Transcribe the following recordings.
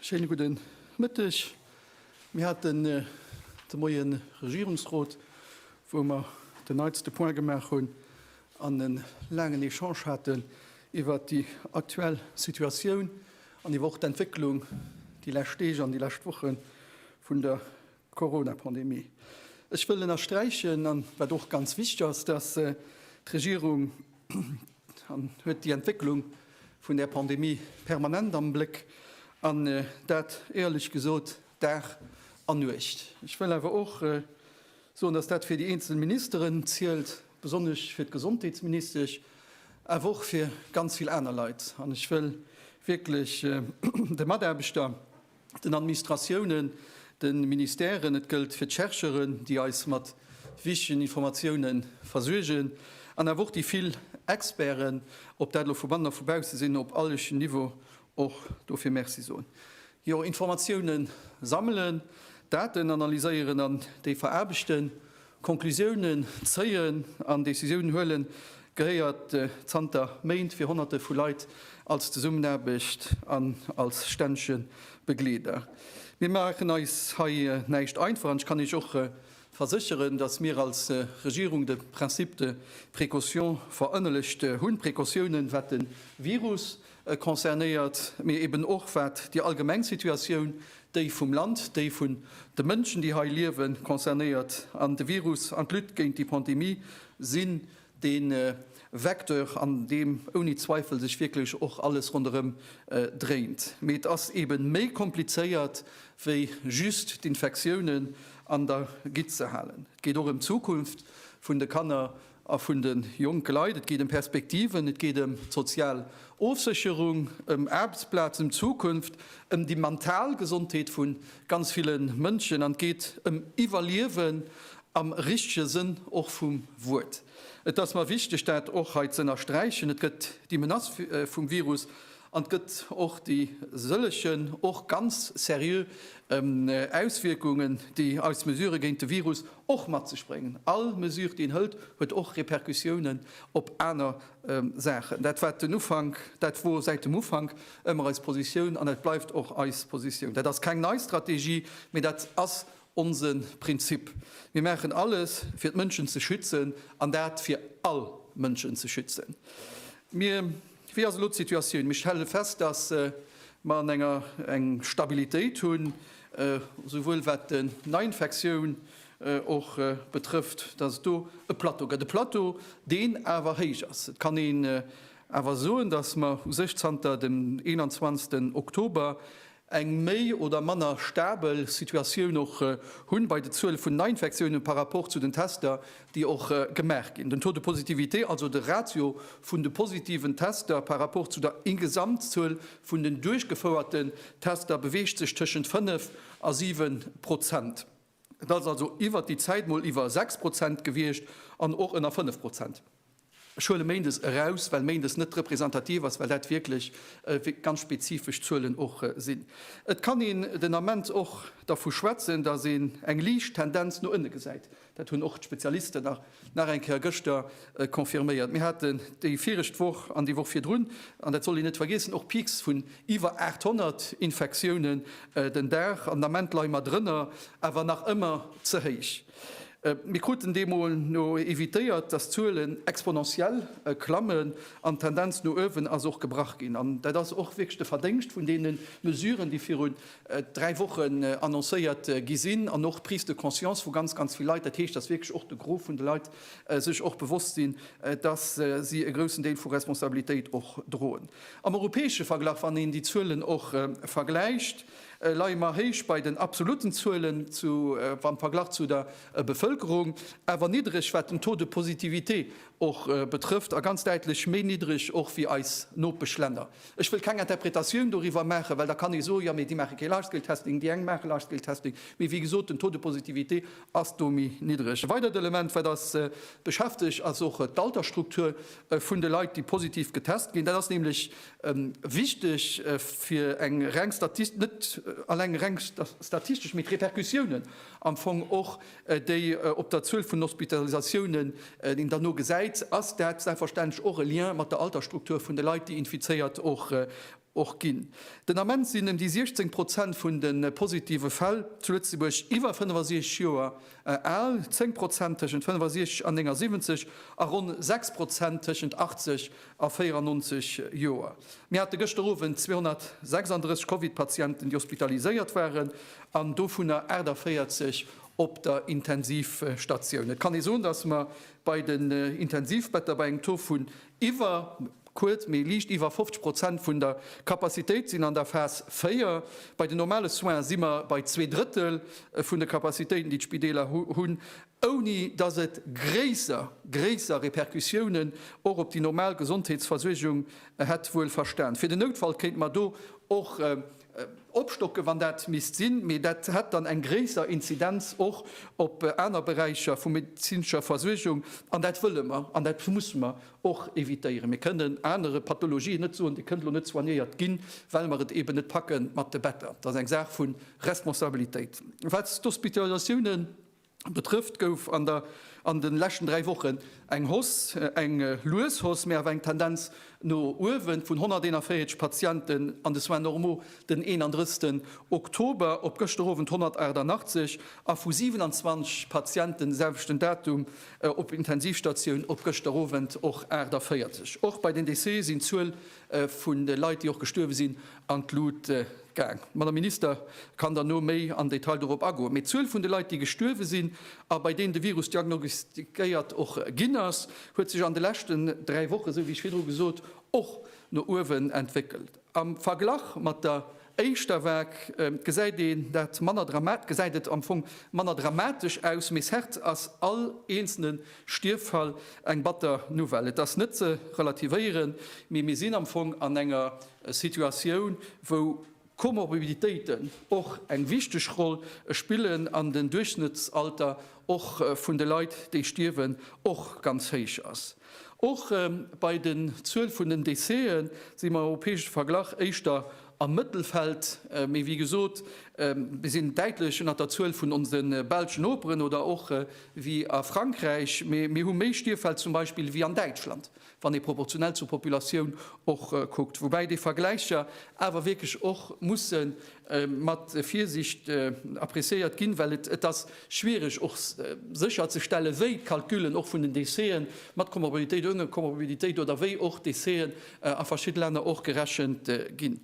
Schéine gudden Mëtteg. Mir haten äh, de Moien Regierungsrot, wou mer den neitste Point gemaach hunn an en laangen Echange haten iwwert déi aktuell Situatioun an iwwer och d'Entwécklung déi lescht Deeg an déi lescht Woche vun der Corona-Pandemie. Ech wëll ënnersträichen, an wat och ganz wichteg ass, dass d'Regierung huet déi Entwécklung vun där Pandemie permanent am Bléck, an dat éierlech gesot Dag an Nuecht. Ech wëll awer och, Soen, dass dat fir déi eenzel Ministeren zielt, besonnesch fir d'Gesondheetsministesch, awer och fir ganz vill aner Leit. An ech wëll wierklech de Mataarbechter, den Administratiounen, de Ministèren, et gëllt fir d'Chercheuren, déi eis mat wichtegen Informatioune versuergen, an awer och déi vill Experten, ob dat elo vu bannen a vu bausse sinn, op allen Niveaue Och dofir Merci soen. Jo, Informatiounen sammelen, Daten analyséieren an déi veraarbechten, Konklusiounen zéien an Decisiounen huelen, gehéiert zanter Méint fir Honnerte vu Leit als Zesummenaarbecht an als stännege Begleeder. Mir maachen eis hei näischt einfach an ech kann Iech och versécheren, datt mir als Regierung de Principe de précaution verënnelegt hunn, Precautiounen, wat de Virus E concernéiert, mee eben och wat déi allgemeng Situatioun, déi vum Land, déi vun de Mënschen, déi hei liewen, concernéiert. An de Virus an d'Lutte géint déi Pandemie sinn dee Vecteur, an deem ouni Zweifel sech wierklech och alles ronderëm dréint. Mee et ass ebe méi komplizéiert, wéi just d'Infektiounen an der Gitt ze halen. Et geet och ëm d'Zukunft vun de Kanner. A vun de jonke Leit. Et geet ëm Perspektiven, et geet ëm d'sozial Ofsécherung, ëm Aarbechtsplazen, ëm d'Zukunft, ëm déi mental Gesondheet vu ganz ville Mënschen an et geet ëm Iwwerliewen am richtege Sënn och vum Wuert. Et ass mer wichteg, dat och hei z'ënnersträichen. Et gëtt déi Menace vum Virus an et gëtt och déi sëllegen, och ganz seriö Auswierkungen, déi eis Mesurë géint de Virus, och matzespréngen. All Mesure déi een hëlt huet och Repercussiounen op aner Saachen. Dat war den Ufank, dat wor säit dem Ufank ëmmer eis Positioun an dat bleift och eis Positioun. Dat ass keng nei Strategie, mee dat ass onse Prinzip. Mir maachen alles fir d'Mënschen ze schützen an dat fir all Mënschen ze schützen. Mir. Wéi ass elo d'Situatioun? Mir stelle fest, datt mer an enger eng Stabilitéit hunn, esouwuel wat den Neiinfektioun och betrëfft, datt et do e Plateau gëtt, e Plateau, deen awer héich ass. Et kann een awer soen, datt mer u sech zanter dem 21 Oktober eng méi oder manner stabel Situatioun och hunn bei de Zuele vun Neiinfektiounen par rapport zu den Tester, déi och gemaach ginn. Den Taux de positivité, also de Ratio vun de positiven Tester par rapport zu der Ingesamtzuel vun den duerchgefouerten Tester, beweegt sech tëschent 5 a 7 Prozent. Et ass also iwwert déi Zäit mol iwwer 6 Prozent gewiescht an och ënner 5 Prozent. Ech huele Méindes eraus, well Méindes net representativ ass, well dat wierklech ganz spezifesch Zuelen och sinn. Et kann een den Ament och dervu schwätzen, datt een eng liicht Tendenz no ënne gesäit. Dat hunn och d'Spezialisten nach Nach eng Kéier gëschter confirméiert. Mir haten déi viregt Woch an déi Woch virdrun, an dat sollt een net vergeessen, och Peaks vun iwwer 800 Infektiounen den Dag. An den Ament leie mer drënner, awer nach ëmmer ze héich. Mir kruten deemno evitéiert, dass d'Zuelen exponentiell klammen. An d'Tendenz no uewen ass och gebrach ginn. An dat ass och wierklech de Verdéngscht vun deene Mesuren, déi virun dräi Wochen annoncéiert gi sinn an och Prise de conscience vu ganz, ganz vill Leit, dat heescht, dass wierklech och de Gros vun de Leit sech och bewosst sinn, dass si e groussen Deel vu Responsabilitéit och droen. Am europäesche Verglach, wann een déi Zuelen och vergläicht, leie mer héich bei den absolutten Zuelen am Verglach zu der Bevëlkerung, awer niddreg, wat den Taux de positivité och betrëfft, a ganz däitlech méi niddreg och wéi eis Nopeschlänner. Ech wëll keng Interpretatioun doriwwer maachen, well da kann ee soen, jo, mee déi maache kee Large-Scale-Testing, déi eng maache Large-Scale-Testing, mee wéi gesot, den Taux de positivité ass do méi niddreg. E weidert Element, wat eis beschäftegt, ass och d'Altersstruktur vun de Leit, déi positiv getest ginn. Dat ass nämlech wichteg fir eng reng, net eleng reng statistesch, mee d'Repercussiounen am Fong och déi op der Zuel vun Hospitalisatiounen, déi een dann no gesäit, ass dat selbstverständlech och e Lien mat der Altersstruktur vun de Leit, déi infizéiert och ginn. Den Ament sinn ëm déi 16 Prozent vun de positive Fäll zu Lëtzebuerg iwwer 65 Joer al, 10 Prozent tëschent 65 an 79 a ronn 6 Prozent tëschent 80 a 94 Joer. Mir hate gëschter Owend 236 Covid-Patienten, déi hospitaliséiert waren, an dovunner 48 op der Intensivstatioun. Et kann ee soen, datt mer bei den Intensivbetter bei engem Taux vun iwwer, kuerz, mee liicht iwwer 50 Prozent vun der Capacitéit sinn an der Phas 4. Bei den normale Soine si mer bei zwee Drëttel vun de Capacitéiten, déi d'Spideeler hunn. ouni datt et gréisser gréisser Repercussiounen och op déi normal Gesondheetsversuergung hätt, wuel verstan. Fir den Noutfall kéinte mer do och opstocken, wann dat misst sinn, mee dat hätt dann eng gréisser Inzidenz och op aner Beräicher vu medezinescher Versuergung, an dat wëlle mer an dat musse mer och evitéieren. Mir kënnen anere Pathologien net soen, Dir kënnt elo net soignéiert ginn, well mer et eeben net packe mat de Better. Dat ass eng Saach vu Responsabilitéit. Wat d'Hospitalisatiounen Betrëfft gouf an der an de leschten dräi Wochen eng Hausse, eng lues Hausse, mee awer eng Tendenz no uewen, vun 141 Patienten an de Soins normaux den 31 Oktober op gëschter Owend 188 a vu 27 Patienten de selwechten Datum op Intensivstatioun op gëschter Owend och 48. Och bei den Decès sinn d'Zuel vun de Leit, déi och gestuerwe sinn, an d'Lut gaang. D'Madame Minister kann derno méi am Detail dorop agoen. Mee d'Zuel vun de Leit, déi gestuerwe sinn a bei deenen de Virus diagnostiquéiert och ginn ass, huet sech an de leschten dräi Wochen, esou wéi ech virdru gesot, och no uewen entwéckelt. Am Verglach mat der Éischter vag gesäit een dat manner dramat, gesäit et am Fong manner dramatesch aus, mee cert ass all eenzelne Stierffall eng batter Nouvelle. Et ass net ze relativéieren, mee mir sinn am Fong an enger Situatioun, wou Komorbiditéiten och eng wichteg Roll spillen an den Duerchschnëttsalter och vun de Leit, déi stierwen, och ganz héich ass. Och bei den Zuel vun den Décéë si mer am europäesche Verglach éischter am Mëttelfeld. Mee wéi gesot, mir sinn däitlech ënnert der Zuel vun onse belschen Noperen oder och wéi a Frankräich. Mee mir hu méi Stierfäll zum Beispill wéi an Däitschland, wann ee proportionell zur Populatioun och kuckt. Woubäi déi Vergläicher awer wierklech och musse mat Virsiicht appreciéiert ginn, well et ass schwiereg och sécherzestellen, wéi d'Calculen och vun den Décheten mat Komorbidität, oune Komorbidität oder wéi och Décheten a verschidde Länner och gerechent ginn.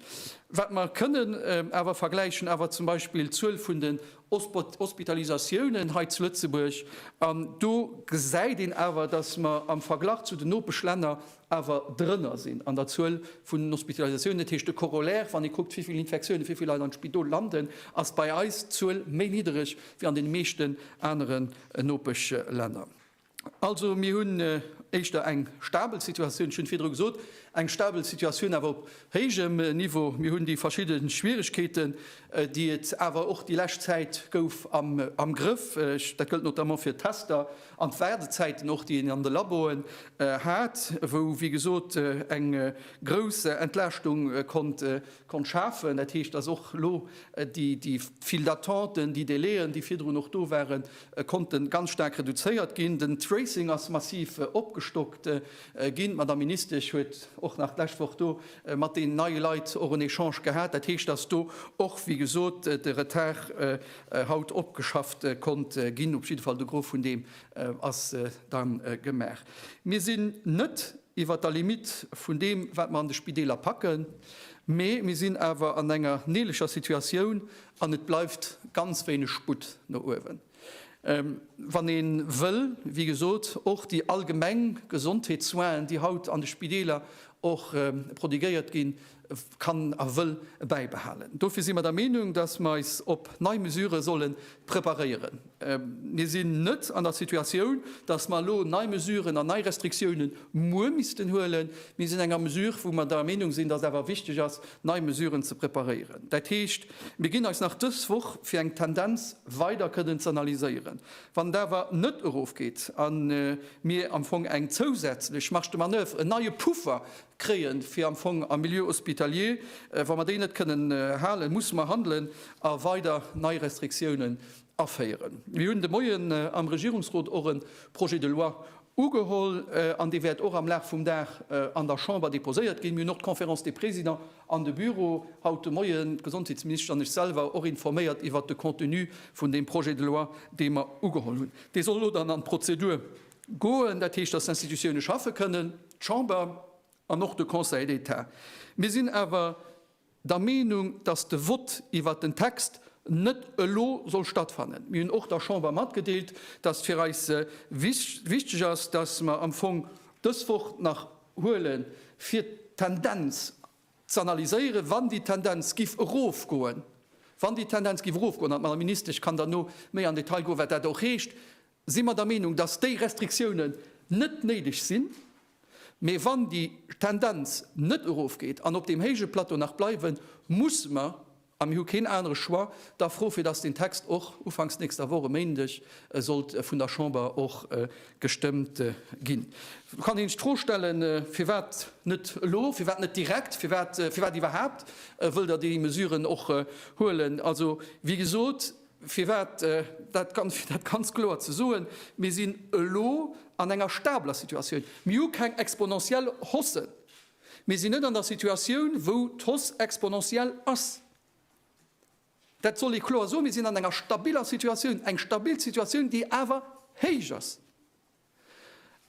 Wat mer kënnen awer vergläichen awer zum Beispill d'Zuel vun den Hospitalisatiounen hei zu Lëtzebuerg, an do gesäit een awer, dass mer am Verglach zu den Nopeschlänner, awer drënner sinn an der Zuel vun den Hospitalisatiounen. Dat heescht, de Corollaire, wann ee kuckt, wéi vill Infektiounen, wéi vill Leit am Spidol landen, ass bei eis d'Zuel méi niddereg wéi an deene meeschten aneren Nopeschlänner. Also mir hunn éischter eng stabel Situatioun, ech hunn et virdru gesot, eng stabel Situatioun, awer op héijem Niveau. Mir hunn déi verschidde Schwierigkeeten, déi et awer och déi lescht Zäit gouf, am Grëff. Dat gëllt notamment fir d'Tester. An d'Waardezäiten och, déi een an de Laboen hat, wou wéi gesot eng grouss Entlaaschtung konnt schafen. Dat heescht, dass och elo déi vill d'Attenten, déi Délai'en, déi virdrun och do waren, konnte ganz staark reduzéiert ginn. Den Tracing ass massiv opgestockt ginn. D'Madame Ministesch huet och nach d'lescht Woch do mat deenen neie Leit och en Echange gehat. Dat heescht, dass do och wéi gesot de Retard haut opgeschafft konnt ginn. Op jidde Fall de Gros vun deem ass da gemaach. Mir sinn net iwwert der Limite vun deem, wat mer an de Spideeler packen, mee mir sinn awer an enger neelecher Situatioun an et bleift ganz wéineg Sputt no uewen, wann ee wëll, wéi gesot, och déi allgemeng Gesondheetssoinen, déi haut an de Spideeler och prodiguéiert ginn, kann a wëll bäibehalen. Dofir si mer der Meenung, datt mer eis op nei Mesurë solle preparéieren. Mir sinn net an der Situatioun, datt mer elo nei Mesuren an nei Restriktioune muer missten huelen. Mir sinn an enger Mesure, wou mer der Meenung sinn, datt et awer wichteg ass, nei Mesuren ze preparéieren. Dat heescht, mir ginn eis nach dës Woch, fir eng Tendenz weider kënnen ze analyséieren. Wann et awer net erofgeet a mir am Fong eng zousätzlech Marge de manoeuvre, en neie Puffer kréien, fir am Fong am Milieu hospitalier, wa mer déi net kënnen halen, musse mer handelen a weider nei Restriktiounen aféieren. Mir hunn de Moien am Regierungsrot och e Projet de loi ugeholl an dee wäert och am Laf vum Dag an der Chamber deposéiert ginn. Mir hunn och d'Conférence des Présidents an de Büro haut de Moien, d'Gesondheetsministesch an ech selwer, och informéiert iwwert de Contenu vun deem Projet de loi, dee mer ugeholl hunn. Dee soll elo dann an d'Prozedur goen, dat heescht, datt d'Institutiounen schaffe kënnen. d'Chamber an och de Conseil d'État. Mir sinn awer der Meenung, dass de Vott iwwert den Text net elo soll stattfannen. Mir hunn och der Chamber matgedeelt, dass fir eis wichteg ass, dass mer am Fong dës Woch nach huele fir d'Tendenz z'analyséieren, wann déi Tendenz giff erofgoen, wann déi Tendenz giff erofgoen, an d'Madame Ministesch kann dann no méi an Detail goen, wat dat och heescht, si mer der Meenung, dass déi Restriktiounen net néideg sinn, mä wann déi Tendenz net erofgeet an op deem héije Plateau nach bleiwen, musse mer, a mir hu keen anere Choix, da froen, fir dass deen Text och ufanks nächster Woch, e Méindeg, sollt vun der Chamber och gestëmmt ginn. Et kann een sech d'Fro stellen, Firwat net elo? Firwat net direkt? Firwat iwwerhaapt wëllt Der déi Mesuren och huelen? Also, wéi gesot. Firwat? Dat ganz kloer ze soen, Mir sinn elo an enger stabeler Situatioun. Mir hu keng exponentiell Haussen. Mir sinn net an der Situatioun, wou d'Hausse exponentiell ass. Dat soll ee kloer soen. Mir sinn an enger stabiler Situatioun, eng stabil Situatioun, déi awer héich ass.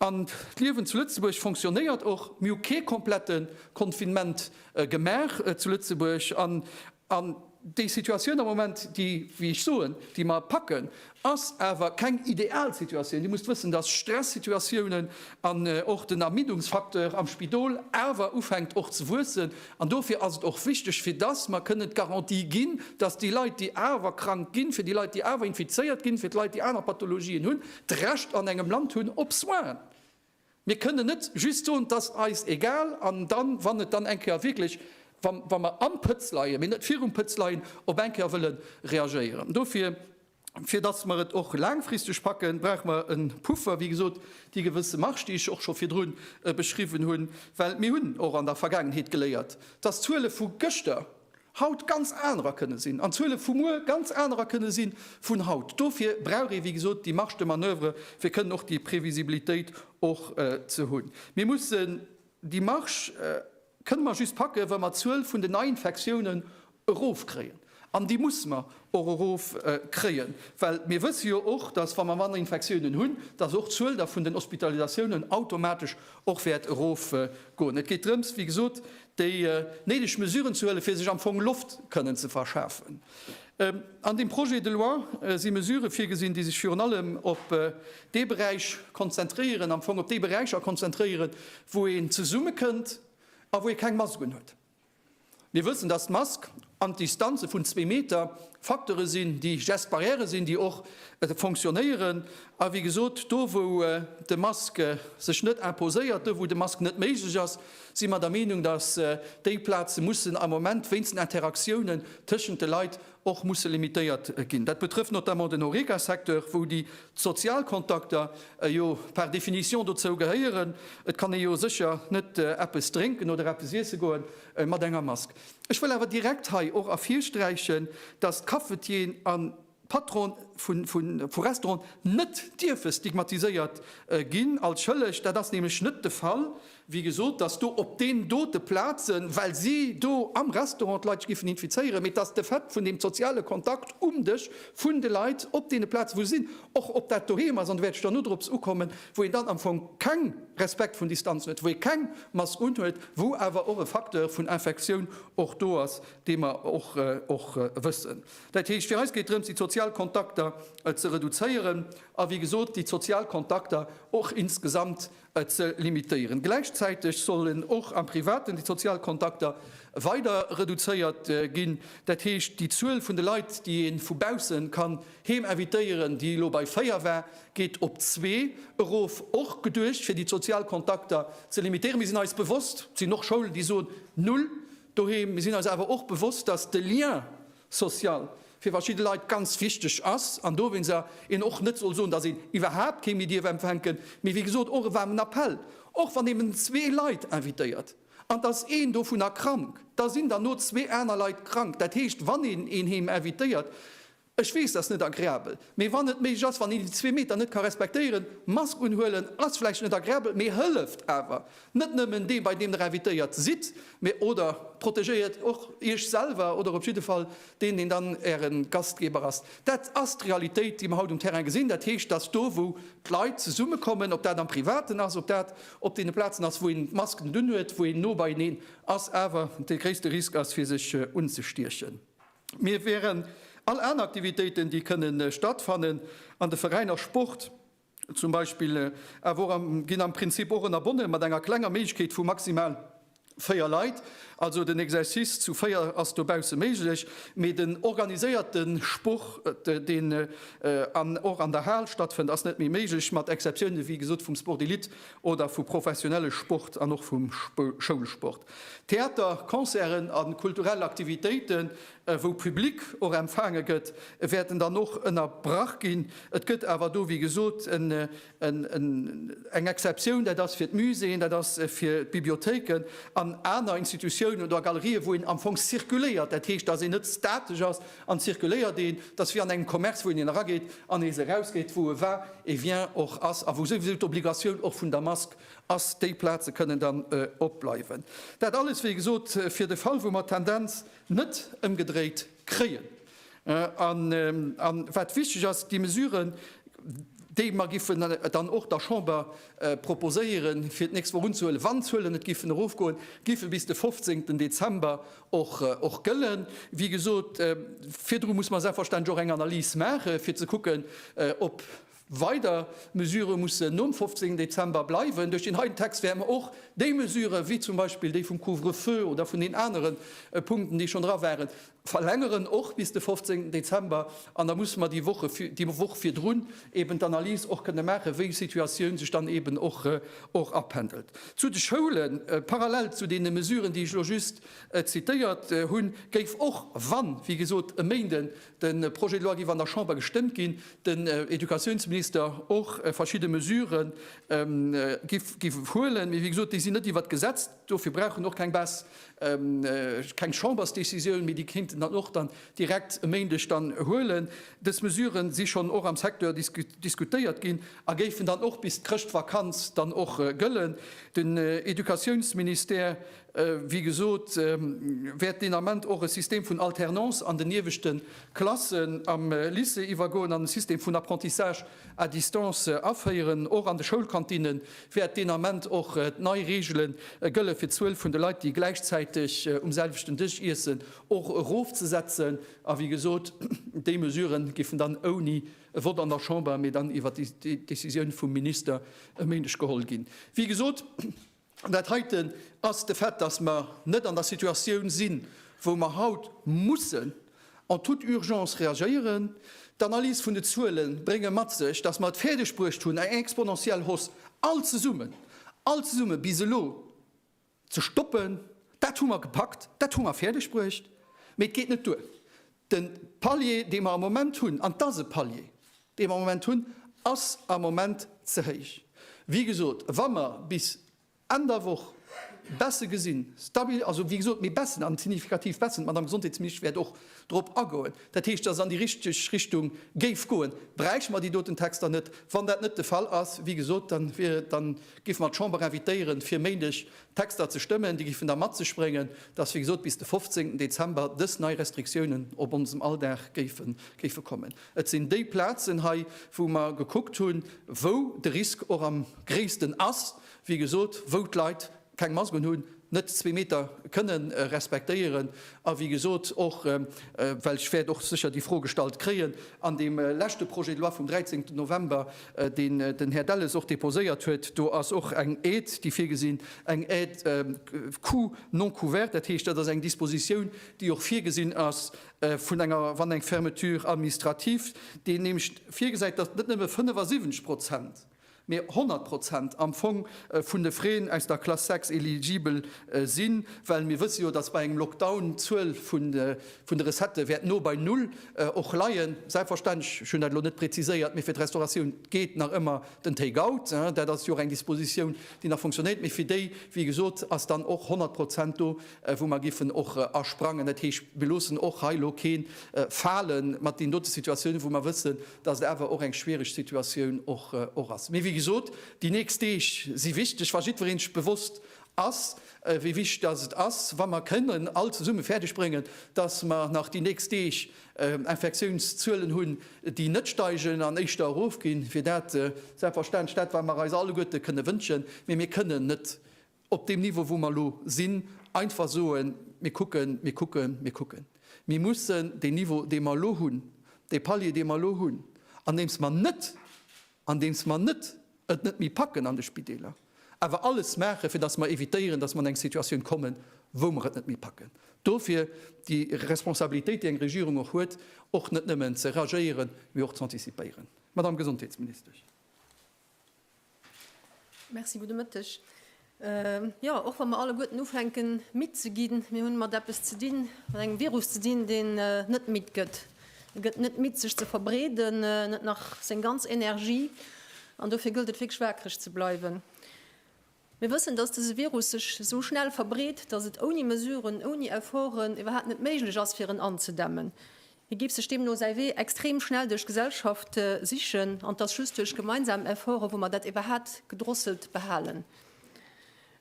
An d'Liewen zu Lëtzebuerg fonctionnéiert och. Mir hu kee komplette Confinement gemaach zu Lëtzebuerg. An déi Situatioun am Moment, déi, wéi ech soen, déi mer packen, ass awer keng ideal Situatioun. Dir musst wëssen, dass Stressituatiounen an och den Ermiddungsfacteur am Spidol awer ufänkt och ze wuessen. An dofir ass et och wichteg, fir dass mer kënnen d'Garantie ginn, dass déi Leit, déi awer krank ginn, fir déi Leit, déi awer infizéiert ginn, fir d'Leit, déi aner Pathologien hunn, d'Recht an engem Land hunn op Soins. Mir kënnen net just soen, et ass eis egal an dann, wann et dann eng Kéier wierklech, wa mer am Pëtz leien, mee net virum Pëtz leien, op eng Kéier wëlle reagéieren. Dofir, fir dass mer et och laangfristeg packen, brauche mer e Puffer, wéi gesot, déi gewësse Marge, déi ech och scho virdru beschriwwen hunn, well mir hunn och an der Vergaangenheet geléiert, dass d'Zuele vu gëschter, haut ganz anerer kënne sinn an d'Zuele vu muer ganz anerer kënne si vun haut. Dofir brauch ee wéi gesot déi Marge de manoeuvre fir kënnen och déi Previsibilitéit och ze hunn. Mir mussen déi Marge kënne mer just packen, wa mer d'Zuel vun den Neiinfektiounen erofkréien an déi musse mer och erofkréien, well mir wësse jo och, datt wa mer manner Infektiounen hunn, datt och d'Zuel da vun den Hospitalisatiounen automatesch och wäert erofgoen. Et geet drëms wéi gesot déi néideg Mesuren ze huelen, fir sech am Fong Loft kënnen ze verschafen. An deem Projet de loi si Mesurë virgesinn, déi sech virun allem op dee Beräich konzentréieren, am Fong op déi Beräicher konzentréieren, wou een zesummekënnt a wou ee keng Masken huet. Mir wëssen, dass d'Mask, an d'Distanze vun zwee Meter Facteure sinn, déi just Barrièrë sinn, déi och fonctionnéieren. A wéi gesot, do wou de Mask sech net imposéiert, do wou de Mask net méiglech ass, si mer der Meenung, datt déi Plaze mussen am Moment wéinst den Interaktiounen tëschent de Leit och musse limitéiert ginn. Dat betrëfft notamment den Horeca-Secteur, wou déi sozial Kontakter jo par définition dozou gehéieren. Et kann ee jo sécher net eppes drénken oder eppes iesse goen mat enger Mask. Ech wëll awer direkt hei och ervirsträichen, dass d'Cafetieren a Patrone vu Restaurante net dierfe stigmatiséiert ginn als Schëlleg. Dat ass nämlech net de Fall. Wéi gesot, dass do op deenen dote Plaze, well si do am Restaurant d'Leit sech géifen infizéieren, mee dass de Fait vun deem soziale Kontakt um Dësch vun de Leit op deene Plaze wou se sinn, och ob dat doheem ass, an do wäert ech dann nodrops ukommen, wou een dann am Fong keng Respekt vun Distanzen huet, wou ee keng Mask unhuet, wou awer och e Facteur vun Infektioun och do ass, dee mer och wëssen. Dat heescht, fir eis geet et drëms, déi sozial Kontakter ze reduzéieren a wéi gesot déi sozial Kontakter och insgesamt ze limitéieren. Gläichzäiteg sollen och am Privaten déi sozial Kontakter weider reduzéiert ginn, dat heescht déi Zuel vun de Leit, déi ee vu bausse ka Heem invitéieren, déi elo bei 4 war, geet op 2 erof. Och geduecht fir déi d'sozial Kontakter ze limitéieren. Mir sinn eis bewosst, et sinn och Schoulen, déi soen Null doheem. Mir sinn eis awer och bewosst, datt de Lien social fir verschidde Leit ganz wichteg ass an dowéinst een och net soll soen, datt een iwwerhaapt kee méi dierf empfänken. Mee wéi gesot, och e waarmen Appell, och wann een nëmmen zwee Leit invitéiert an et ass een dovunner krank, da sinn der no zwee aner Leit krank. Dat heescht, wann een een Heem invitéiert, Ech weess, dass net agreabel, mee wann et méiglech ass, wann een déi zwee Meter net ka respektéieren, Mask unhuelen ass vläicht net agreabel, mee hëlleft awer. Net nëmmen dee bei deem der invitéiert sidd, mee oder protegéiert och iech selwer oder op jidde Fall deen, deen dann äre Gastgeber ass. Dat ass d'Realitéit, déi mer haut um Terrain gesinn. Dat heescht, dass do wou d'Leit zesummekommen, ob dat am Privaten ass, ob dat op deene Plazen ass, wou een d'Masken dunn huet, wou een no beieneen ass, awer de gréisste Risk ass fir sech unzestiechen. Mir wären all aner Aktivitéiten, déi kënne stattfannen an de Veräiner Sport zum Beispill, awer och am, ginn am Prinzip och ënnerbonne mat enger klenger Méiglechkeet vu maximal véier Leit. Also den Exercice zu véier ass dobausse méiglech, mee den organiséierte Sport, deen och an der Hal stattfënnt, ass net méi méiglech, mat Exceptioune wéi gesot vum Sport d'élite oder vu professionelle Sport an och vum Schoulsport. Theater, Concerten a kulturell Aktivitéiten, wou Public och empfaange gëtt, wäerten dann och ënnerbrach ginn. Et gëtt awer do, wéi gesot, eng Exceptioun, dat ass fir d'Muséeën, dat ass fir d'Bibliothéiken an aner Institutiounen oder Galerië wou een am Fong zirkuléiert, dat heescht, datt een net statesch ass an zirkuléiert. Een ass wéi an engem Commerce, wou een een erageet an nees erausgeet, wou e war, e vient, och ass a wou souwisou d'Obligatioun och vun der Mask ass, déi Plaze kënnen dann opbleiwen. Dat alles, wéi gesot, fir de Fall, wou mer d'Tendenz net ëmgedréit kréien. A wat wichteg ass, déi Mesuren, déi mer giffen dann och der Chamber proposéieren, fir d'nächst Woch unzehuelen, wann d'Zuelen net giffen erofgoen, giffe bis de 15 Dezember och gëllen. Wéi gesot, virdru musse mer selbstverständlech och eng Analys maachen, fir ze kucken, ob, Weider Mesurë mussen nom 15 Dezember bleiwen. Duerch deen heiten Text wäerte mer och déi Mesurë wéi zum Beispill déi vum Couvre-feu oder vun den anere Punkten, déi schonn dra waren, verlängeren, och bis de 15 Dezember. An da musse mer déi Woche, déi Woch virdrun eeben d'Analys och kënne maachen, wéi d'Situatioun sech dann eeben och apendelt. Zu de Schoulen, Parallel zu deene Mesuren, déi ech elo just zitéiert hunn, géif och, wann, wéi gesot, e Méinden De Projet de loi géif an der Chamber gestëmmt ginn, den Educatiounsminister och verschidde Mesurë géif huelen. Mee wéi gesot, déi sinn net iwwert d'Gesetz, dofir brauch en och keng Baisse, keng Chambersdecisioun, mee déi kéint en dann och dann direkt e Méindeg dann huelen. Dës Mesurë si schonn och am Secteur diskutéiert ginn a géifen dann och bis d'Chrëschtvakanz dann och gëllen. Den Educatiounsministère Wéi gesot, wäert deen Ament och e System vun Alternance an den ieweschte Klassen am Lycée iwwergoen an e System vun Apprentissage à distance aféieren. Och an de Schoulkantinne wäert deen Ament och nei Reegele gëlle fir d'Zuel vun de Leit, déi gläichzäiteg um selwechten Dësch iessen, och erofzesetzen. A wéi gesot, déi Mesurë géifen dann ouni e Vott an der Chamber, mee dann iwwer déi Décisioun vum Minister e Méindeg geholl ginn. Wéi gesot. An dat heiten ass de Fait, dass mer net an der Situatioun sinn, wou mer haut mussen en toute urgence reagéieren. D'Analyse vun de Zuele brénge mat sech, dass mer et fäerdeg bruecht hunn, eng exponentiell Hausse all zesummen, all zesumme bis elo ze stoppen. Dat hu mer gepackt, dat hu mer fäerdeg bruecht, mee et geet net duer, De Palier, dee mer am Moment hunn, an et ass e Palier, dee mer am Moment hunn, ass am Moment ze héich. Wéi gesot, wa mer bis Enn der Woch Baisse gesinn, stabil, also, wéi gesot, mee Baissen, an signifikativ Baissen, d'Madame Gesondheetsministesch wäert och drop agoen, dat heescht, datt et an déi richteg Richtung géif goen, bräichte mer déi doten Texter net. Wann dat net de Fall ass, wéi gesot, da géife mer d'Chamber invitéieren, fir Méindeg Texter ze stëmmen, déi géifen da mat sech bréngen, dass, wéi gesot, bis de 15. Dezember dës nei Restriktiounen op onsem Alldag géife kommen. Et sinn déi Plazen hei, wou mer gekuckt hunn, wou de Risk och am gréissten ass, wéi gesot, wou d'Leit keng Mask unhunn, net zwee Meter kënne respektéieren a wéi gesot och, well ech wäert och sécher déi Fro gestallt kréien, an deem leschte Projet de loi vum 13. November, deen den Här Delles och déposéiert huet, do ass och eng Aide, déi virgesinn, eng Aide coût non couvert. Dat heescht, dat ass eng Dispositioun, déi och virgesinn ass vun enger, wann eng Fermeture administrative, déi nämlech virgesäit, datt net nëmme 75 Prozent, mä 100 Prozent am Fong vun de Frais aus der Classe 6 eligibel sinn, well mir wësse jo, datt bei engem Lockdown d'Zuel vun de Recettë wäert no bei Null och leien. Selbstverständlech, ech hunn dat elo net preziséiert, mee fir d'Restauratioun geet nach ëmmer den Take out. Dat ass jo och eng Dispositioun, déi nach fonctionéiert. Mee fir déi, wéi gesot, ass dann och 100 Prozent do, wou mer géifen och asprangen. Dat heescht, mir loossen och hei elo kee fale mat deenen dote Situatiounen, wou mer wëssen, dass et awer och eng schwiereg Situatioun och ass. Mee wéi gesot, déi nächst Deeg si wichteg. Wa jiddweree sech bewosst ass, wéi wichteg dass et ass, wa mer kënnen all zesumme fäerdeg bréngen, dass mer nach déi nächst Deeg Infektiounszuelen hunn, déi net steigen an éischter erofginn, wier dat selbstverständlech dat, wat mer eis alleguerte kënne wënschen. Mee mir kënnen net op deem Niveau, wou mer elo sinn, einfach soen, Mir kucken, mir kucken, mir kucken. Mir mussen deen Niveau, dee mer elo hunn, dee Palier, dee mer elo hunn, andeems mer net andeems mer net et net méi packen an de Spideeler, awer alles maachen, fir datt mer evitéieren, datt mer an eng Situatioun kommen, wou mer et net méi packen. Dofir déi Responsabilitéit, déi eng Regierung och huet, och net nëmmen ze reagéieren, mee och z'antizipéieren. Madame Gesondheetsministesch. Merci, gudde Mëtteg. Jo, och wa mer alleguerten ufänken, midd ze ginn, mir hunn mat eppes ze dinn, mat engem Virus ze dinn, deen net midd gëtt. E gëtt net midd, sech ze verbreeden, net nach seng ganz Energie. An dofir gëllt et wierklech waakreg ze bleiwen. Mir wëssen, dass dëse Virus sech esou schnell verbreet, dass et ouni Mesuren, ouni Efforten iwwerhaapt net méiglech ass, fir en anzedämmen. Hie géif sech deemno säi Wee extrem schnell duerch d'Gesellschaft sichen an et ass just duerch gemeinsam Efforte wou mer dat iwwerhat gedrosselt behalen.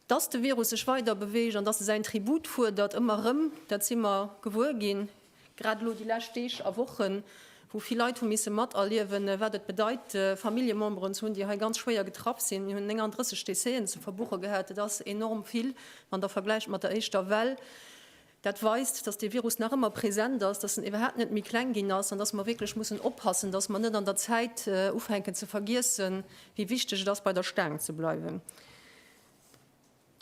Dass de Virus sech weider beweegt an dass e säin Tribut fuerdert, ëmmer erëm, dat si mer gewuer ginn, grad elo déi lescht Deeg a Wochen, wou vill Leit hu misse materliewen, wat et bedeit Familljememberen ze hunn, déi hei ganz schwéier getraff sinn. Mir hunn 39 Décéen ze verbuche gehat, et ass enorm vill, wann Der vergläicht mat der éischter Well. Dat weist, dass dee Virus nach ëmmer present ass, dass en iwwerhaapt net méi kleng ginn ass an dass mer wierklech mussen oppassen, dass mer net an der Zäit ufänken ze vergiessen, wéi wichteg et ass bei der Staang ze bleiwen.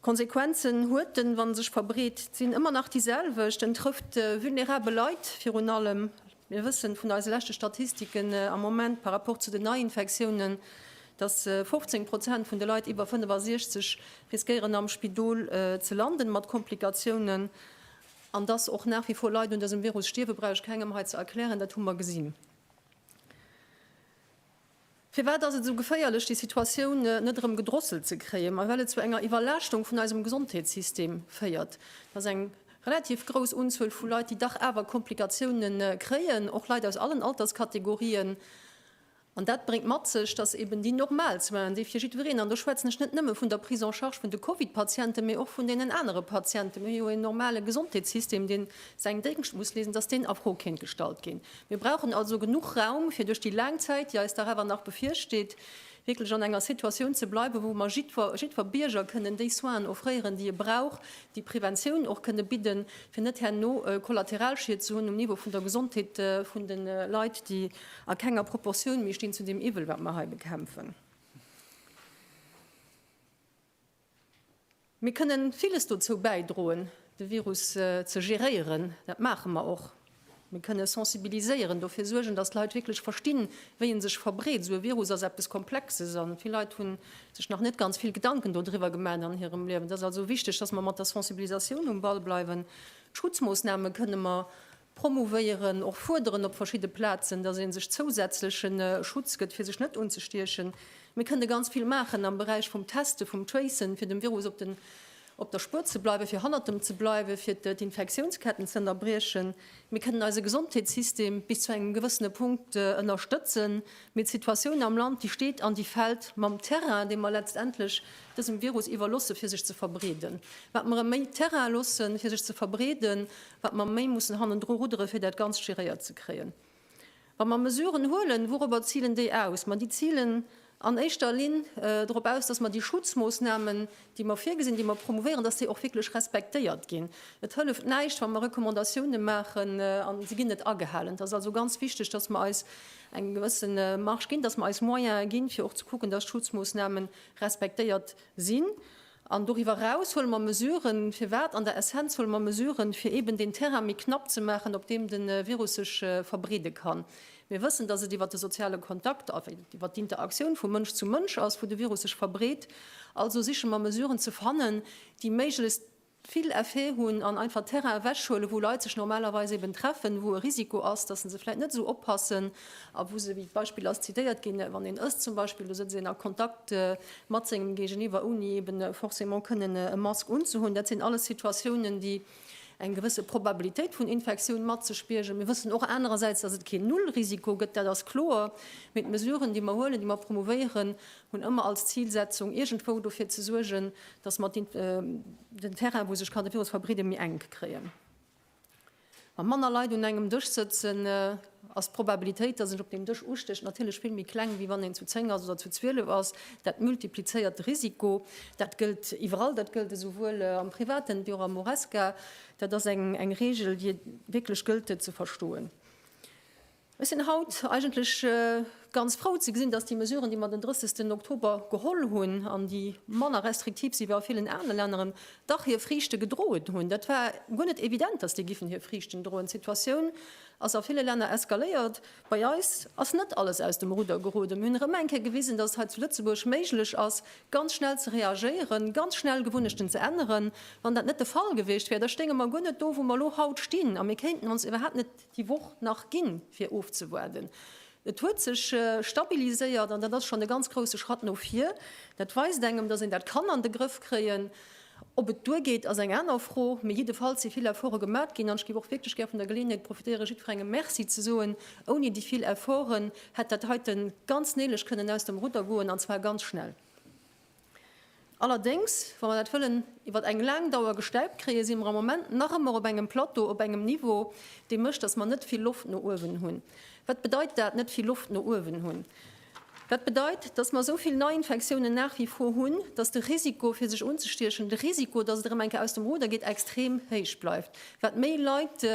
D'Konsequenzen huet en, wann e sech verbreet, sinn ëmmer nach déi selwecht, en trëfft vulnerabel Leit virun allem. Mir wëssen vun eise leschte Statistiken am Moment par rapport zu den Neiinfektiounen, dass 15 Prozent vun de Leit iwwer 65 riskéieren am Spidol ze landen mat Komplikatiounen an dass och nach wie vor Leit un dësem Virus stierwen, brauch ech kengem hei ze erklären, dat hu mer gesinn. Firwat ass et esou geféierlech, déi Situatioun net erëm gedrosselt ze kréien? Mä well et zu enger Iwwerlaaschtung vun eisem Gesondheetssystem féiert. Et ass eng relativ grouss Unzuel vu Leit, déi dach awer Komplikatioune kréien, och Leit aus allen Alterskategorien. An dat bréngt mat sech, datt eben déi normal Soinen, déi fir jiddwereen, an do schwätzen ech net nëmme vun der Prise en charge vun de Covid-Patienten, mä och vun deenen anere Patienten, mir hu jo en normale Gesondheetssystem, dee säin Déngscht muss leeschten, datt deen a Fro kéint gestallt ginn. Mir brauchen also genuch Raum, fir duerch déi laang Zäit, déi eis dach awer nach bevirsteet, wierklech an enger Situatioun ze bleiwen, wou mer jiddwer, jiddwer Bierger kënnen déi Soinen offréieren, déi e brauch, déi Preventioun och kënnen bidden, fir net herno Kollateralschied ze hunn um Niveau vun der Gesondheet vun de Leit, déi a kenger Proportioun méi stinn zu deem Iwwel, wat mer hei bekämpfen. Mir kënnen villes dozou bäidroen, de Virus ze geréieren. Dat maache mer och. Mir kënnen sensibiliséieren, dofir suergen, dass d'Leit wierklech verstinn, wéi e sech verbreet. Esou e Virus ass eppes Komplexes a vill Leit hu sech nach net ganz vill Gedanken dodriwwer gemaat an hirem Liewen. Et ass also wichteg, dass mer mat der Sensibilisatioun um Ball bleiwen. D'Schutzmoossname kënnen mer promouvéieren, och fuerderen op verschidde Plazen, dass ee sech zousätzlechen Schutz gëtt, fir sech net unzestiechen. Mir kënnte ganz vill maachen am Beräich vum Testen, vum Tracen, fir dem Virus op den, op der Spuer ze bleiwen, fir hannert em ze bleiwen, fir d'Infektiounsketten ze ënnerbriechen. Mir kënnen eise Gesondheetssystem bis zu engem gewëssene Punkt ënnerstëtzen, mee d'Situatioun am Land, déi steet an déi fält mam Terrain, dee mer letztendlech dësem Virus iwwerlosse fir sech ze verbreeden. Wat mer em méi Terrain loossen, fir sech ze verbreeden, wat mer méi mussen hannendru ruddere fir dat Ganzt géréiert ze kréien. Wa mer Mesuren huelen, wouropper zilen déi aus? Ma déi zilen an éischter Linn dorop aus, datt mer déi Schutzmoossnamen, déi mer virgesinn, déi mer promouvéieren, datt déi och wierklech respektéiert ginn. Et hëlleft näischt, wa mer Recommandatiounen maachen an se ginn net agehalen. Et ass also ganz wichteg, datt mer eis eng gewësse Marge ginn, datt mer eis Moyene ginn, fir och ze kucken, datt d'Schutzmoossnamen respektéiert sinn. An doriwwer eraus huele mer Mesuren. Firwat? An der Essenz huele mer Mesuren, fir eeben deen Terrain méi knapp ze maachen, op deem de Virus sech verbreede kann. Mir wëssen, dass et iwwer de soziale Kontakt, iwwer d'Interaktioun vu Mënsch zu Mënsch ass, wou de Virus sech verbreet. Also siche mer Mesuren ze fannen, déi méiglechst vill Effet hunn an einfach Terrain ewechhuelen, wou Leit sech normalerweis eeben treffen, wou e Risiko ass, dass se se vläicht net esou oppassen a wou se, wéi d'Beispill ass zitéiert ginn, wann een ësst zum Beispill, do sëtzt een a Kontakt mat sengem Géigeniwwer, ouni eben forcément kënnen e Mask unzehunn. Dat sinn alles Situatiounen, déi eng gewësse Probabilitéit vun Infektioun mat sech biergen. Mir wëssen och anerersäits, dass et keen Nullrisiko gëtt, dat ass kloer, mee d'Mesuren, déi mer huelen, déi mer promouvéieren, hunn ëmmer als Zilsetzung, iergendwou dofir ze suergen, dass mer den Terrain, wou sech kann de Virus verbreeden, méi enk kréien. Wa manner Leit un engem Dësch sëtzen, ass d'Probabilitéit, dass een op deem Dësch ustécht, natierlech vill méi kleng, wéi wann een zu zéng ass oder zu zwielef ass. Dat multiplizéiert de Risiko. Dat gëllt iwwerall. Dat gëllt esouwuel am Privaten wéi och am Horesca. Dat ass eng Reegel, déi et wierklech gëllt, ze verstoen. Ech sinn haut eigentlech ganz frou ze gesinn, dass déi Mesuren, déi mer den 30 Oktober geholl hunn an déi manner restriktiv si wéi a villen anere Länneren, dach hir Friichte gedroen hunn. Dat war guer net evident, dass déi giffen hir Friichten droen. D'Situatioun ass a ville Länner eskaléiert. Bei eis ass net alles aus dem Rudder geroden. Mir hunn erëm eng Kéier gewisen, dass et hei zu Lëtzebuerg méiglech ass, ganz schnell ze reagéieren, ganz schnell Gewunnechten ze änneren. Wann dat net de Fall gewiescht wär, da stéinge mer guer net do, wou mer elo haut stinn, a mir kéinten ons iwwerhaapt net déi Woch nach ginn, fir ofzewaarden. Et huet sech stabiliséiert an dat ass schonn e ganz grouse Schratt no vir. Dat weist engem, datt een dat kann an de Grëff kréien. Ob et duergeet, ass eng aner Fro, mee jiddefalls si vill Efforte gemat ginn an ech géif och wierklech gär vun der Geleeënheet profitéieren, jiddwerengem Merci ze soen. Ouni déi vill Efforten hätt dat heiten ganz néilech kënnen aus dem Rudder goen, an zwar ganz schnell. Allerdéngs, wa mer dat wëllen iwwer eng laang Dauer gestemmt kréien, si mer am Moment nach ëmmer op engem Plateau, op engem Niveau, dee mécht, dass mer net vill Loft no uewen hunn. Wat bedeit dat, net vill Loft no uewen hunn? Dat bedeit, dass mer esou vill Neiinfektiounen nach wie vor hunn, dass de Risiko, fir sech unzestiechen, de Risiko, dass et erëm eng Kéier aus dem Ruder geet, extrem héich bleift. Wat méi Leit.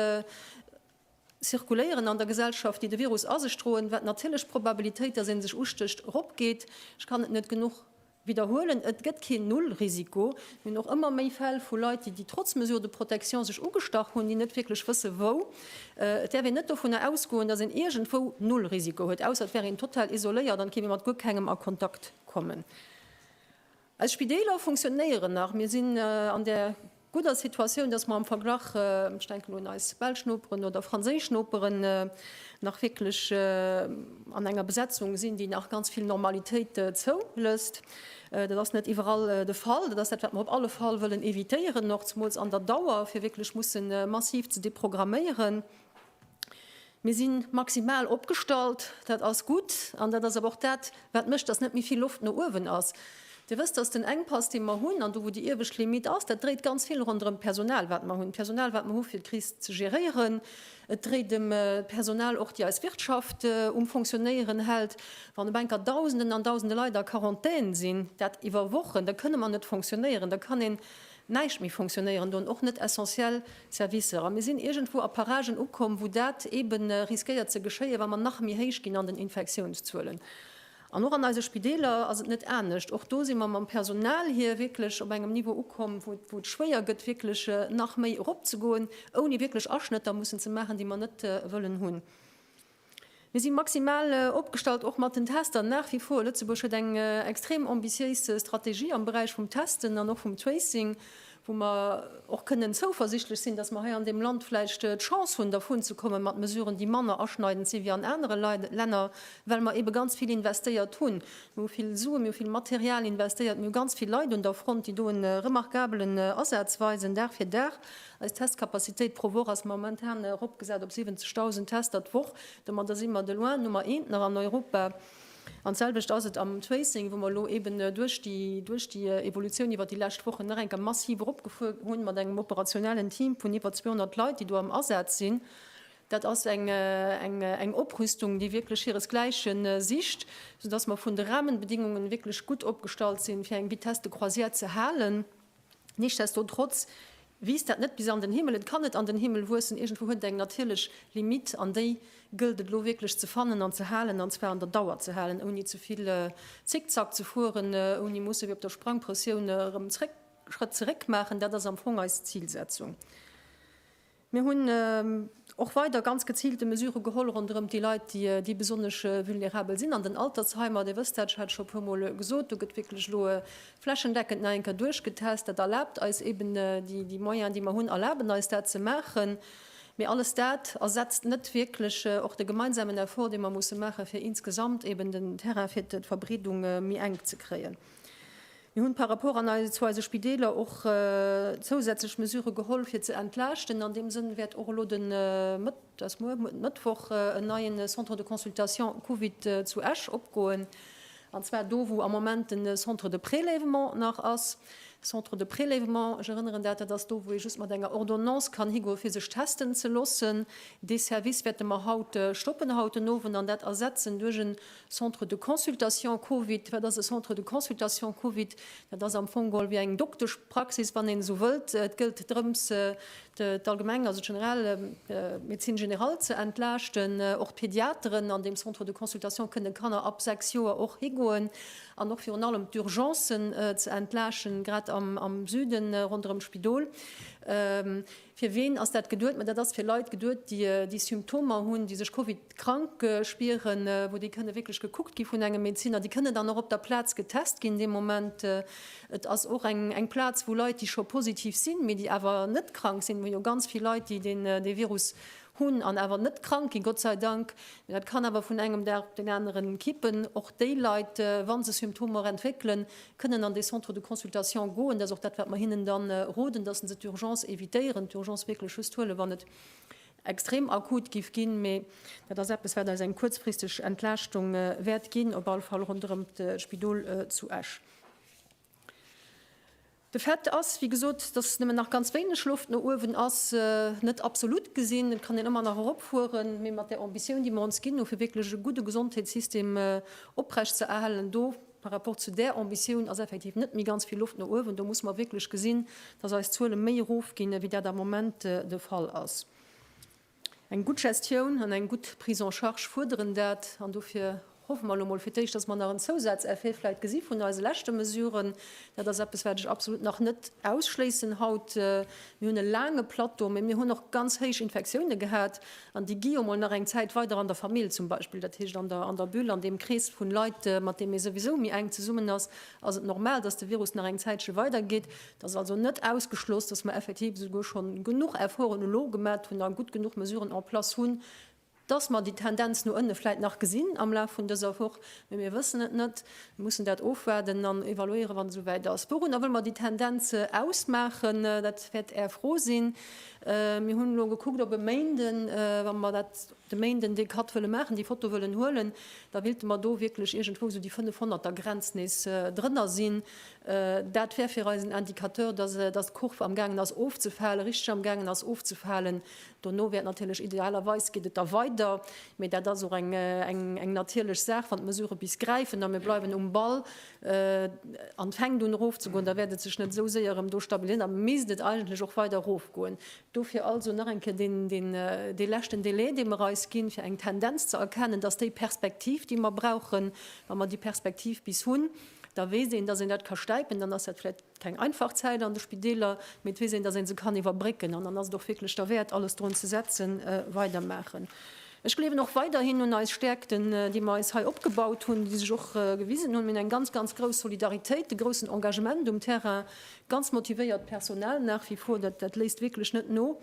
zirkuléieren an der Gesellschaft, déi de Virus a sech droen, wat natierlech d'Probabilitéit, dass ee sech ustécht, eropgeet. Ech kann et net genuch widderhuelen, Et gëtt keen Nullrisiko. Mir hunn och ëmmer méi Fäll vu Leit, déi, déi trotz Mesures de protection sech ugestach hunn, déi net wierklech wësse wou. Et däerf een net dovunner ausgoen, dass een iergendwou Nullrisiko huet, ausser et wär een total isoléiert an et kéint ee mat guer kengem a Kontakt kommen. Eis Spideeler funktionéieren nach. Mir sinn an där gudder Situatioun, dass mer am Verglach, ech denken un eis belsch Noperen oder franséisch Noperen, nach wierklech an enger Besetzung sinn, déi nach ganz vill Normalitéit zoulësst. Dat ass net iwwerall de Fall. Dat ass dat, wat mer op alle Fall wëllen evitéieren, och zemools an der Dauer, fir wierklech mussen massiv ze deprogramméieren. Mir si maximal opgestallt, dat ass gutt. An dat ass awer och dat, wat mécht, dass net méi vill Loft no uewen ass. Dir wësst, dass den Enkpass, dee mer hunn, an do wou déi iewescht Limitt ass, dat dréit ganz vill ronderëm d'Personal, wat mer hunn, d'Personal, wat mer hu fir d'Kris ze geréieren. Et dréit ëm d'Personal och, déi eis Wirtschaft um Fonctionéieren hält. Wann op eng Kéier Dausenden an Dausende Leit a Quarantän sinn, dat iwwer Wochen, da kënne mer net fonctionéieren. Da kann een näischt méi fonctionnéieren do, och net essentiell Servicer. A mir sinn iergendwou a Paragen ukomm, wou dat eebe riskéiert ze geschéien, wa mer nach méi héich ginn an den Infektiounszuelen. An och an eise Spideeler ass et net anescht. Och do si mer mam Personal hier wierklech op engem Niveau ukomm, wou et schwéier gëtt, wierklech nach méi eropzegoen, ouni wierklech Aschnëtter mussen ze maachen, déi mer net wëllen hunn. Mir si maximal opgestallt, och mat den Tester nach wie vor. Lëtzebuerg huet eng extrem ambitiéis Strategie am Beräich vum Testen an och vum Tracing, wou mer och kënnen zouversichtlech sinn, dass mer hei an deem Land vläicht d'Chance hunn, dervun ze kommen, mat Mesuren, déi manner aschneidend sinn wéi an anere Länner, well mer eebe ganz vill investéiert hunn. Mir hu vill Sue, mir hu vill Material investéiert, mir hu ganz vill Leit un der Front, déi do e remarkabelen Asaz weisen, Dag fir Dag. Eis Testcapacitéit pro Woch ass momentan eropgesat op 70.000 Tester d'Woch. Domadder si mer de loin Nummer eent nach an Europa. An d'selwecht ass et am Tracing, wou mer elo eeben duerch déi, duerch déi Evolutioun iwwert déi lescht Wochen nach eng Kéier massiv eropgefuer hunn, mat engem operationellen Team vun iwwer 200 Leit, déi do am Asaz sinn. Dat ass eng, eng, eng Oprüstung, déi wierklech hiresgläichen sicht, soudass mer vun de Rahmenbedingungen wierklech gutt opgestallt sinn, fir eng Vitesse de croisière ze halen. Nichtsdestotrotz wiisst dat net bis an den Himmel, et kann net an den Himmel wuessen, iergendwou huet et eng natierlech Limite an déi gëllt et elo wierklech ze fannen an ze halen, an zwar an der Dauer ze halen, ouni ze vill Zickzack ze fueren, ouni musse wéi op der Sprangpressioun erëm Schrëtt zeréck maachen. Dat ass am Fong eis Zilsetzung. Mir hunn och weider ganz geziilte Mesurë geholl ronderëm déi Leit, déi besonnesch vulnerabel sinn an den Altersheimer. Dir wësst dat, ech hat et scho e puer Mol gesot, do gëtt wierklech elo flächendeckend nach eng Kéier duerchgetest. Dat erlaabt eis eeben, déi Moyenen, déi mer hunn, erlaben eis dat ze maachen. Mee alles dat ersetzt net wierklech och de gemeinsamen Effort, dee mer musse maachen, fir insgesamt eeben den Terrain fir d'Verbreedung méi enk ze kréien. Mir hunn par rapport an ei, zu eise Spideeler och zousätzlech Mesure geholl fir ze entlaaschten. An deem Sënn wäert och elo de Mëtt, dat ass muer, den Mëttwoch en neien Centre de consultation Covid zu Esch opgoen, an zwar do wou am Moment den Centre de prélèvement nach ass. Centre de prélèvement, ech erënneren dat, dat ass do wou ee just mat enger Ordonnance kann higoe fir sech testen ze loossen. Dee Service wäerte mer haut stoppen, haut den Owend, an dat ersetzen duerch en Centre de consultation Covid, wat ass e Centre de consultation Covid? Dat ass am Fong geholl wéi eng Dokteschpraxis, wann een esou wëllt. Et gëllt drëms, d'Allgemeng, also d'General, d'Médecine générale ze entlaaschten. Och d'Pediateren an deem Centre de consultation kënne Kanner ab 6 Joer och higoen. An och virun allem d'Urgencen ze entlaaschten, grad am Süden ronderëm d'Spidol. Fir ween ass dat geduet? Ma dat ass fir Leit geduet, déi Symptomer hunn, déi sech Covid-krank spieren, wou déi kënne wierklech gekuckt gi vun engem Medezinner. Déi kënne dann och op der Plaz getest ginn dee Moment. Et ass och eng Plaz, wou Leit, déi scho positiv sinn, mee déi awer net krank sinn, wou jo ganz vill Leit, déi dee Virus Hunn an awer net krank ginn, Gott sei Dank. Mee dat kann awer vun engem Dag op den aneren kippen. Och déi Leit, wa se Symptomer entwéckelen, kënnen an dee Centre de consultation goen. Dat ass och dat, wat mer hinnen dann roden, dass se d'Urgence evitéieren, d'Urgence wierklech just huelen, wann et extrem akut giff ginn. Mee dat ass eppes, wat eis eng kuerzfristeg Entlaaschtung wäert ginn, op alle Fall ronderëm d'Spidol zu Esch. De Fait ass, wéi gesot, dass nëmmen nach ganz wéineg Loft no uewen ass. Net absolut gesinn, et kann een ëmmer nach eropfueren, mee mat där Ambitioun, déi mer ons ginn hu fir wierklech e gudde Gesondheetssystem oprecht ze erhalen, do par rapport zu där Ambitioun ass effektiv net méi ganz vill Loft no uewen. Do musse mer wierklech gesinn, dass eis Zuele méi erofginn, wéi dat am Moment de Fall ass. Eng gutt Gestioun an eng gutt Prise en charge fuerderen dat. An dofir hoffe mer elo emol fir d'éischt, dass mer nach en Zousazeffet vläicht gesi vun eise leschte Mesuren. Dat ass eppes, wat ech absolut nach net ausschléissen haut. Mir hunn e laange Plateau, mä mir hunn och ganz héich Infektioune gehat. An déi gi jo emol nach eng Zäit weider an der Famill zum Beispill. Dat heescht, an der Bulle, an deem Krees vu Leit, mat deem ee souwisou méi enk zesummen ass, ass et normal, dass de Virus nach eng Zäitche weidergeet. Et ass also net ausgeschloss, dass mer effektiv esouguer scho genuch Efforten elo gemat hunn a gutt genuch Mesuren en place hunn, dass mer déi Tendenz no ënne vläit nach gesinn am Laf vun dëser Woch. Mee mir wëssen et net. Mir mussen dat ofwaarden an evaluéieren, wa se esouwäit ass. Wourunner wëlle mer déi Tendenz ausmaachen? Dat wäert Är Fro sinn. Mir hunn elo gekuckt op e Méinden, wa mer dat. De Méinden dee Cut wëlle maachen, déi Foto wëllen huelen, da willte mer do wierklech iergendwou esou déi 500 der Grenz nees drënner sinn. Dat wär fir eis en Indicateur, dass d'Kurv am gaangen ass ofzefalen, richteg am gaangen ass ofzefalen. Dono wär et natierlech, idealerweis geet et da weider, mee dat ass och eng natierlech Saach, wann d'Mesurë bis gräifen a mir bleiwen um Ball an et fänkt un erofzegoen, da wäert et sech net esou séier erëm do stabiliséieren, da misst et eigentlech och weider erofgoen. Dofir also nach eng Kéier dee leschten Delai, dee mer eis ginn, fir eng Tendenz ze erkennen, dass déi Perspektiv, déi mer brauchen, wa mer déi Perspektiv bis hunn, da weess een, dass een dat ka stäipen. Dann ass dat vläicht keng einfach Zäit an de Spideeler, mee et weess een, dass ee se kann iwwerbrécken. An dann ass et och wierklech derwäert, alles drun ze setzen, weidermaachen. Ech gleewen och weiderhin un eis Stäerkten, déi mer eis hei opgebaut hunn, déi sech och gewisen hunn. Mir hunn eng ganz, ganz grouss Solidaritéit, e groussen Engagement um Terrain, Ganz motivéiert Personal nach wie vor, dat léisst wierklech net no.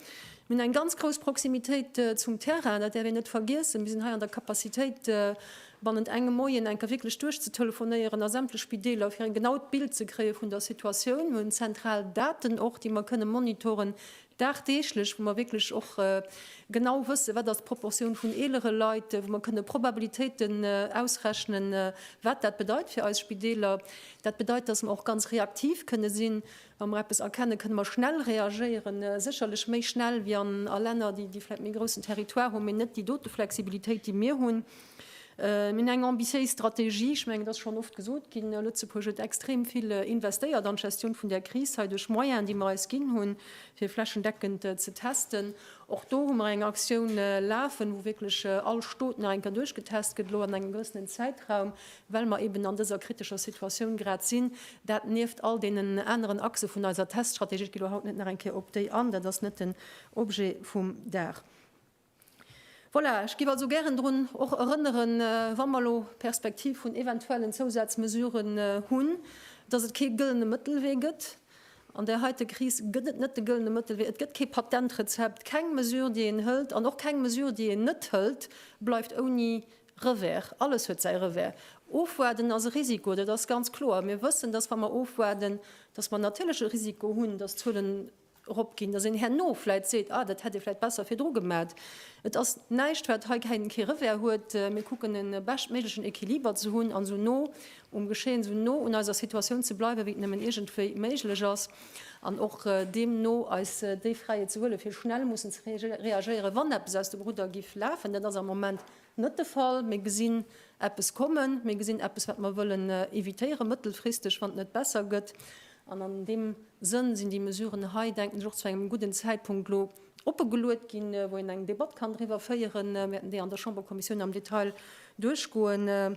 Mir hunn eng ganz grouss Proximitéit zum Terrain, dat däerf een net vergiessen. Mir sinn hei an der Capacitéit, bannent engem Moien enker wierklech duerchzetelefonéieren a sämtlech Spideeler, fir e genaut Bild ze kréie vun der Situatioun. Mir hunn zentral Daten och, déi mer kënne monitoren, dagdeeglech, wou mer wierklech och genau wëssen, wat ass d'Proportioun vun eelere Leit, wou mer kënne Probabilitéiten ausrechnen, wat dat bedeit fir eis Spideeler. Dat bedeit, dass mer och ganz reaktiv kënne sinn. Wa mer eppes erkennen, kënne mer schnell reagéieren, sécherlech méi schnell wéi a Länner, déi vläicht méi groussen Territoire hunn, mee net déi dote Flexibilitéit, déi mir hunn. Mir hunn eng ambitiéis Strategie. Ech mengen, et ass schonn oft gesot ginn, Lëtzebuerg huet extrem vill investéiert an d'Gestioun vun där Kris hei duerch Moyenen, déi mer eis ginn hunn, fir flächendeckend ze testen. Och do hu mer eng Aktioun lafen, wou wierklech all Stot nach eng Kéier duerchgetest gëtt, elo an engem gewëssenen Zäitraum, well mer eben an dëser kritescher Situatioun grad sinn. Dat nieft all deenen aneren Achse vun eiser Teststrategie. Ech gi elo haut net nach eng Kéier op déi an, dat ass net den Objet vum Dag. Voilà, ech giff also gären drun och erënneren, wa mer elo d'Perspektiv vun eventuellen Zousazmesuren hunn, dass et kee gëllene Mëttelwee gëtt. An där heite Kris gëtt et net de gëllene Mëttelwee. Et gëtt kee Patentrezept. Keng Mesure, déi een hëlt, an och keng Mesure, déi een net hëlt, bleift ouni Revers. Alles huet säi Revers. Ofwaarden ass e Risiko, dat ass ganz kloer. Mir wëssen, dass, wa mer ofwaarden, dass mer natierlech e Risiko hunn, dass d'Zuelen, erop ginn, datt een herno vläit seet, ah dat hätt ee vläit besser virdru gemat. Et ass näischt wat hei keng kee Revers huet. Mir kucken e beschtméiglechen Equiliber ze hunn an esou no um Geschehen, esou no un eiser Situatioun ze bleiwen, wéi et nëmmen iergendwéi méiglech ass an och deemno eis déi Fräiheet ze huelen, fir schnell mussen ze reagéieren, wann eppes aus dem Rudder giff lafen. Dat ass am Moment Net de Fall. Mir gesinn eppes kommen. Mir gesinn eppes, wat mer wëllen evitéieren, mëttelfristeg, wann et net besser gëtt. An an deem Sënn sinn déi Mesuren hei, denken ech, och zu engem gudden Zäitpunkt elo opegeluet ginn, wou een eng Debatt kann driwwer féieren. Mir wäerten déi an der Chamberkommissioun am Detail duerchgoen.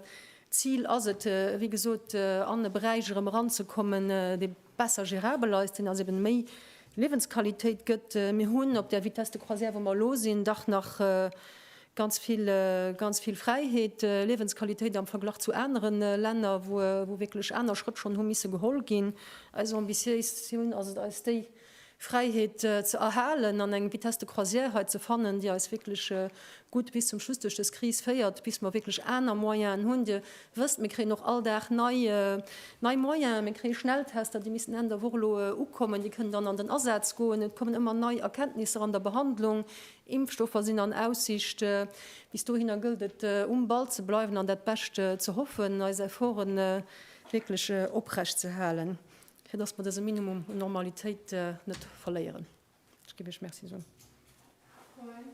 D'Zil ass et, wéi gesot, an e Beräich erëm eranzekommen, dee, besser gérabel ass, deen also eben méi Liewensqualitéit gëtt. Mir hunn op där Vitesse de croisière, wou mer elo sinn, dach nach ganz vill, ganz vill Fräiheet, Liewensqualitéit am Verglach zu anere Länner, wou, wou wierklech aner Schrëtt schonn hu misse geholl ginn. Eis Ambitiéis hunn ass et, eis déi Fräiheet ze erhalen an eng Vitesse de croisière hei ze fannen, déi eis wierklech gutt bis zum Schluss duerch dës Kris féiert, bis mer wierklech aner Moyenen hunn. Dir wësst, mir kréien och all Dag nei Moyenen. Mir kréie Schnelltester, déi missten Enn der Woch elo ukommen. Déi kënnen dann an den Asaz goen. Et kommen ëmmer nei Erkenntnisser an der Behandlung. Impfstoffer sinn an Aussicht. Bis dohinner gëllt et, um Ball ze bleiwen an dat Bescht ze hoffen, eis Efforte wierklech oprecht ze halen. fir dass mer dëse Minimum un Normalitéit net verléieren. Ech géif Iech Merci soen. Froen?